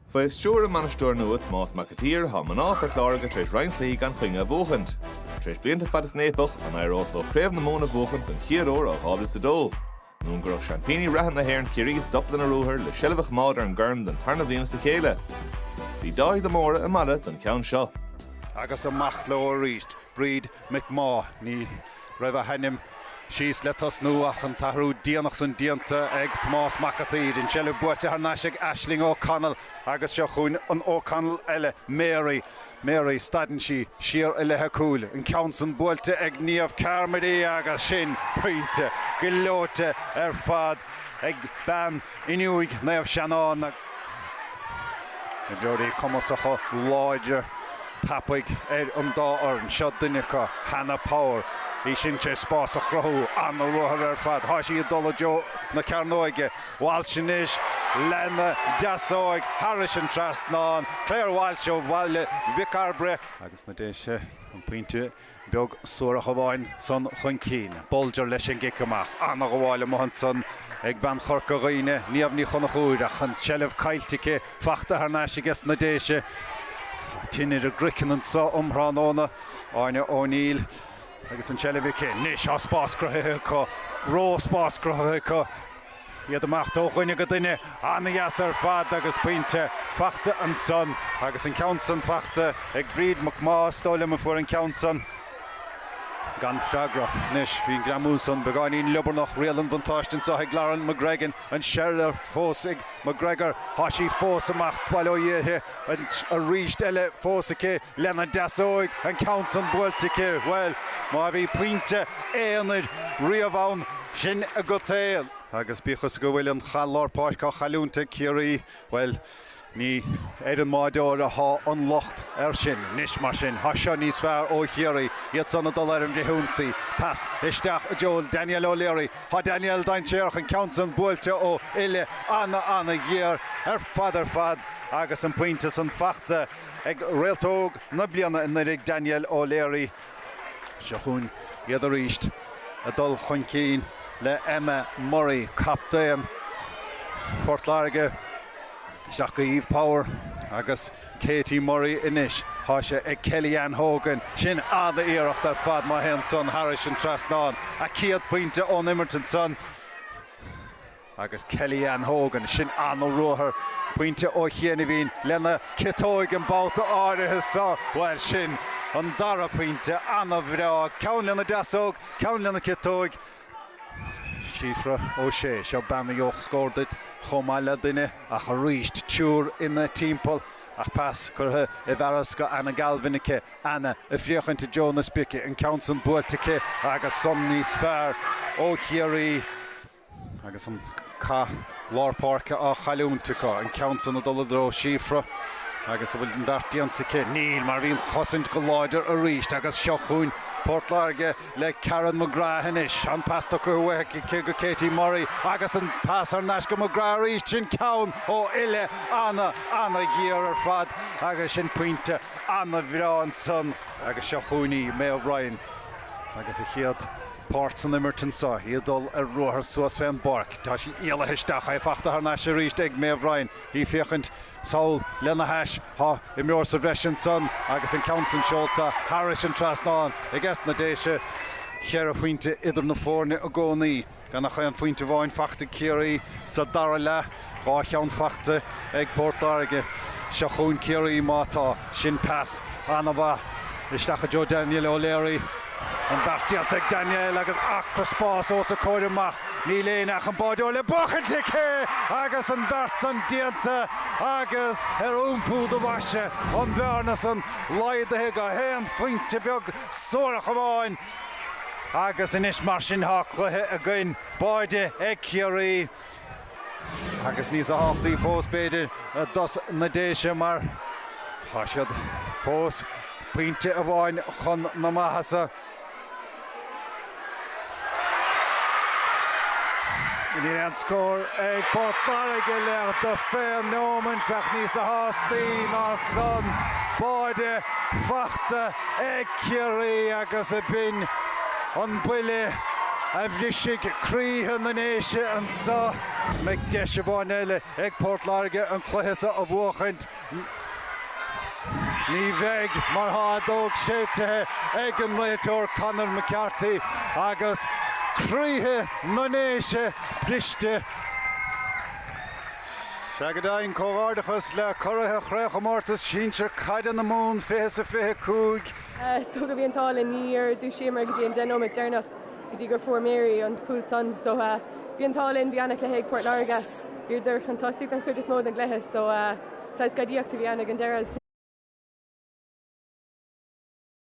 Faoi stiúir a mbainisteoir nua, Tomás Mac a tSaoir, tá mná Phort Láirge tar éis roinnt cluichí gan choinne a bhuachaint. Tar éis blianta fada san fhaopach, an éireodh leo Craobh na Mumhan a bhuachaint don chéad uair ó 2002? Nó an gcuirfeadh seaimpíní reatha na hÉireann Ciarraí stop lena ruathar le seilbh a choimeád ar an gcorn don tarna bhliain as a chéile? Bhí Dáithí de Mórdha i Mala don cheann seo. Agus amach leo arís, Bríd McMaugh, Ní. raibh a hainm síos le tosnú ach an t-athrú déanach san déanta ag Tomás Mac a' tSaoir. An tseilbh buaite thar n-ais ag Aisling O'Connell agus seo chugainn an O'Connell eile, Mary. Mary, stadann sí siar i leith a cúil, an ceann san buailte ag Niamh Carmody agus sin pointe gleoite ar fad ag bean Fhionnúig Naomh Seanán. Imreoirí cumasacha, láidre. tapaidh ar an dá fhoireann. Seo duine acu, Hannah Power. Bhí sin sé spás a chruthú. An-ruathar ar fad. Tá sí ag dul i dtreo na cearnóige. Walsh anois lena deasóig thairis an trasnán. Clare Walsh ó Bhaile Mhic Cairbre. Agus na Déise an pointe. beag suarach amháin san chun cinn. Bulger leis an gcic amach. An-ghabháil amuigh ansan ag bean Chorca Dhuibhne, Niamh Ní Chonchúir, ach an tseilbh caillte aici. Fachta thar n-ais aige sna Déise. Tine ar a gcraiceann anso um thráthnóna. Áine O'Neill agus an tseilbh aici. Anois tá spás cruthaithe acu. Ró-spás cruthaithe acu. iad amach ó dhuine go duine, an-dheas ar fad agus pointe fachta ansan. Agus an ceann san fachta ag Bríd McMaugh, is dóigh liom, a fuair an ceann san gan freagra. Anois, bhí an greamú san beagáinín liobarnach, riail an bhuntáiste anso ag Lauren McGregor, an tseilbh fós ag McGregor, tá sí fós ag imeacht bhuel ó dhíorthaigh, aríst eile fós aici. lena deasóig an ceann san buailte aici, bhuel, má bhí pointe aonair riamh ann, sin agat é. Agus bíodh is go bhfuil an cath lár páirce á chailliúint ag Ciarraí, bhuel, ní ar an mbáireoir atá an locht air sin. Anois, mar sin, tá seo níos fearr ó Chiarraí, iad san ag dul ar an bhfrithionsaí. Pas isteach i dtreo Danielle O'Leary. Tá Danielle dainséarach, an ceann san buailte ó uille ana-ana-ghéar ar fad ar fad agus an pointe san fachta. ag Réalt Óg na Bliana anuraidh Danielle O'Leary. Seo chugainn iad aríst ag dul chun cinn le Emma Murray, captaen Phort Láirge, isteach go Eve Power agus Katie Murray anois. Tá sé ag Kellyann Hogan. Sin an-iarracht ar fad má théann san thairis an trasnán. A céad pointe ón imirt ansan. Agus Kellyann Hogan, sin ana-ruathar, pointe ó chianaibhín lena ciotóig an babhta áirithe so, bhuel, sin an dara pointe, ana-bhreá, ceann lena deasóg, ceann lena ciotóig. Síofra O'Shea, seo bean a gheobhadh scór duit chomh maith le duine, ach aríst, triúr ina timpeall, ach pas curtha i bhfearas go Anna Galvin aici, Anna ag féachaint i dtreo na spíce, an ceann san buailte aici, agus san níos fearr ó Chiarraí. Agus an cath lár páirce á chailliúint acu, an ceann san ag dul i dtreo Síofra agus an bhfuil an beart déanta aici? Níl, mar bhí an chosaint go láidir arís agus seo chugainn Port Láirge le Karen McGrath anois. An pas tugtha uaithi aici go Katie Murray agus an pas thar n-ais go McGrath arís. Sin ceann ó uille ana, ana-ghéar ar fad agus sin pointe ana-bhreá ansan. Agus seo chugainn í, Maeve Ryan, agus a chéad. páirt san imirt anseo, í ag dul ar ruathar suas fén bpáirc, tá sí éalaithe isteach, é fachta thar n-ais arís ag Maeve Ryan, í féachaint sall lena hais, tá imreoir sa bhreis ansan agus an ceann san seolta thairis an trasnán aiges na Déise. Ceithre phointe idir na foirne i gcónaí, gan ach aon phointe amháin fachta ag Ciarraí sa dara leath. Dhá cheann fachta ag Port Láirge. Seo chugainn Ciarraí má tá. Sin pas ana-mhaith isteach i dtreo Danielle O'Leary. An beart déanta ag Danielle agus acra spáis os a comhair amach. Níl éinne ach an báideoir le buachaint aici agus an beart san déanta agus ar iompú do bhaise an bhearna san laghdaithe go haon phointe beag suarach amháin. Agus anois mar sin tá cluiche againn. Báide ag Ciarraí. Agus níos tábhachtaí fós, b'fhéidir, dos na Déise, mar tá siad fós pointe amháin chun na maitheasa. Níl aon scór ag Port Láirge le dosaen nóimint ach níos tábhachtaí ná san, báide fachta. ag Ciarraí agus ab in an buille a bhrisfidh croíthe na nDéise anseo. An mbeidh deis amháin eile ag Port Láirge an cluiche seo a bhuachaint. Ní bheidh mar tá an fheadóg séitithe ag an réiteoir Conor McCarthy agus croíthe na nDéise briste. Sea go deimhin comhghairdeachas le curaithe Chraobhchomórtas Sinsear Caide na Mumhan 20 sa 25. Is dócha bhí an t-ádh linn, níor dúisíomar go dtí an deich nóiméad deireanach go dtí gur fuair Mary an cúl san so bhí an t-ádh linn, bhí an-chluiche ag Port Láirge, bhíodar chun tosaigh don chuid is mó den gcluiche so saghas gadaíocht a bhí ann ag an deireadh.